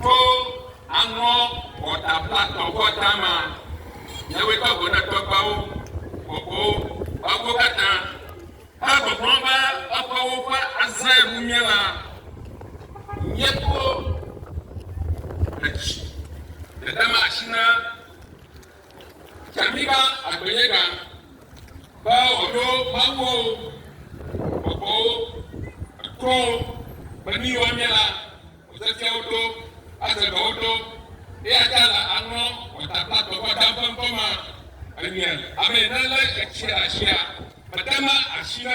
Tso aŋɔ wɔta blaktɔ vɔ dama nyɛwoe tɔ go ne tɔgbuiawo bɔbɔ eƒewo katã he gbɔgblɔm be eƒewo ƒe azãe ŋu mía la, míeto ɖedzi dedema asi na. Tsaɖiba agbenyegã, be wòaɖo mawuwo, gbɔgbɔwo, etrɔwo, be nu yiwo anye la, wòafiafia wo ɖo, aze dɔ wo ɖo, eya ta la, aŋlɔ gbɔtakpla gbɔgbɔ dam ƒe ŋkɔ ma enye, ame yi nelé etsi ɖe asia, mede ma asi na.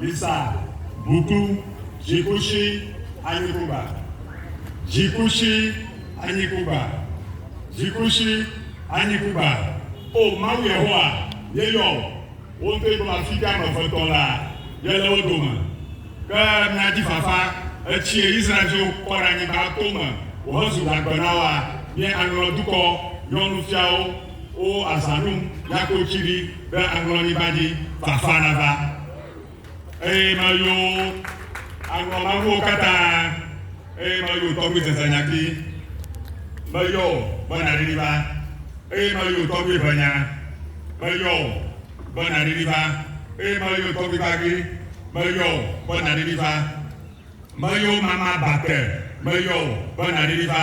Lisa, Buku, Dzikushi, Anyikuba, Dzikushi, Anyikuba, Dzikushi, Anyikuba, O Mawu Yehowa, yeyɔ wò, wò ŋutɔe gblɔ afi ka ame eve tɔ lea, yele wo dome. Ke mía dzi fafa, etsiɛ Israel-viwo kpɔ ɖe anyigba to me wòhezu gagbe na woa, míeaŋlɔ dukɔ nyɔnufiawo, O azãnu nyako tsiɖi ɖe aŋlɔnyigba dzi, fafa nava. Eye meyo aŋlɔ maŋuwo katã, eye meyo tɔgbi zezanyati, meyɔ o be naɖiɖi va, eye meyo tɔgbi ʋenya, meyɔ o be naɖiɖi va, eye meyo tɔgbi gbagli, meyɔ o be naɖiɖi va, meyo mama bate, meyɔ o be naɖiɖi va,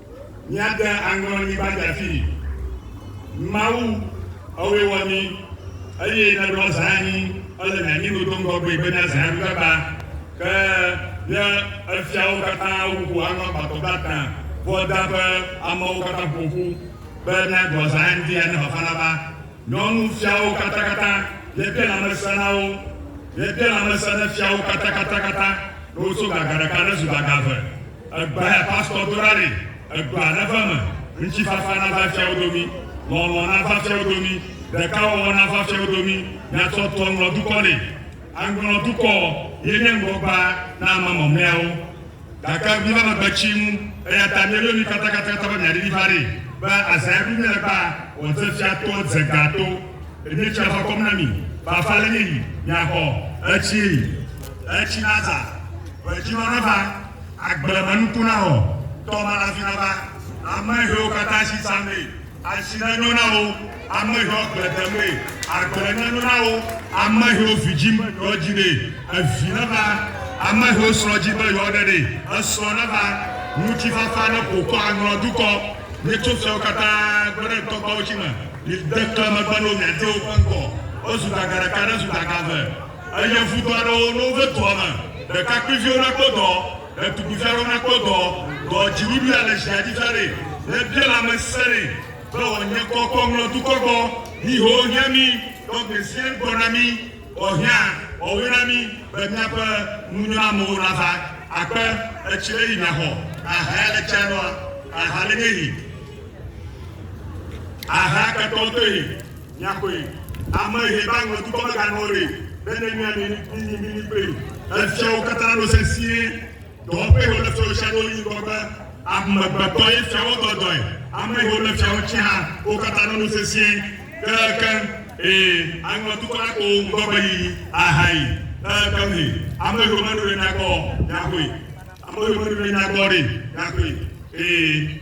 Míade aŋrɔ ni va djafii. Mawu, ewɔe wɔ ni, eye nèɖɔ zã anyi ele nye anyinu do ŋgɔgbee be nye zã ŋu gagba, ke nye efiawo katã wu ƒo aŋrɔ agbãtɔ blaetɔ̃ ƒua da ƒe amewo katã ƒo ƒu be míaɖɔ zã anyi dzi ane fafa nava. Nyɔnu fiawo katakata, míebia lãmesẽ na wo, míebia lãmesẽ ne fiawo katakatakata, ne wotso gaga ɖeka ne zu gaga eve. Egbea ya pastor dona ɖi, egbea neva eme, ŋutifafa nava fiawo domi, lɔlɔ̃ nava fiawo domi, ɖekawɔwɔ nava fiawo domi, miatsɔ tu aŋlɔ dukɔ nɛ. Aŋlɔ dukɔ ye nye ŋgɔgbea na ame mamleawo. Gake míva nɔ gbe tsim, eya ta míeyɔ mi katakata be miaɖi vi va ɖee, be azã ye ɖum míele be wòadze fia to edze gã to, ɖe míetsi afa kɔm na mi, fafa le nye yi, miaxɔ etsi yi. Etsi nazã, ʋedzinɔ nava, agblemenuku nawɔ, tɔmelavi nava, ame hewo katã si zã mee. Asi nenyo na wò ameheɔ agble dem ɖe, agble nenyo na wò ameheɔ vidzi me yeɔ dzi ɖe, evi neva ameheɔ srɔ dzi be yeɔ ɖe ɖe, esrɔ neva ŋutifafa ne ƒokɔ aŋlɔ dukɔ ne tso fiawo katã gbe ɖe ŋtɔgbawo tsi me. Mi de kle megbe no mia dewo ƒe ŋkɔ wozu daga ɖeka ne zu daga eve eye ŋudɔ aɖewo no ve dua me ɖekakpuiviwo na kpɔ dɔ. Ɖetugbivia ɖo nakpɔ dɔ, dɔ dziɖuɖu ya le ʒia dzi viaɖe, nebia lãmesẽ nɛ, be wòanye kɔ kɔ ŋlɔ dukɔ gbɔ, mí ho hiã mí, ɖɔ gbeziẽ gbɔ na mí, wɔ hiã, wɔ woe na mí, be míaƒe nunyɔnamewo nava akpe, etsi ɖe yi miaxɔ, aha ya le tsia nɔa, aha le nye yi, aha ketɔwo toe. Miakoe, ame he ba ŋɔ dukɔ me ga nɔ re, be ne mia mi mi nyi mi mi kpli. Efia wo kata ɖo sesie, dɔ ƒe ho le fia wo sia ɖo yi ŋgɔ be, ame gbe tɔ ye fia wo dɔ dɔe, ame he wo le fia wo tsi hã wo kata ɖo nu sesie, ke ke he aŋɔ dukɔ la ko wo ŋgɔ be yi a ha yi, ke ke he ame he wo me nu re nyagbɔ, miakoe, ame he wo me nu re nyagbɔ re, miakoe, he.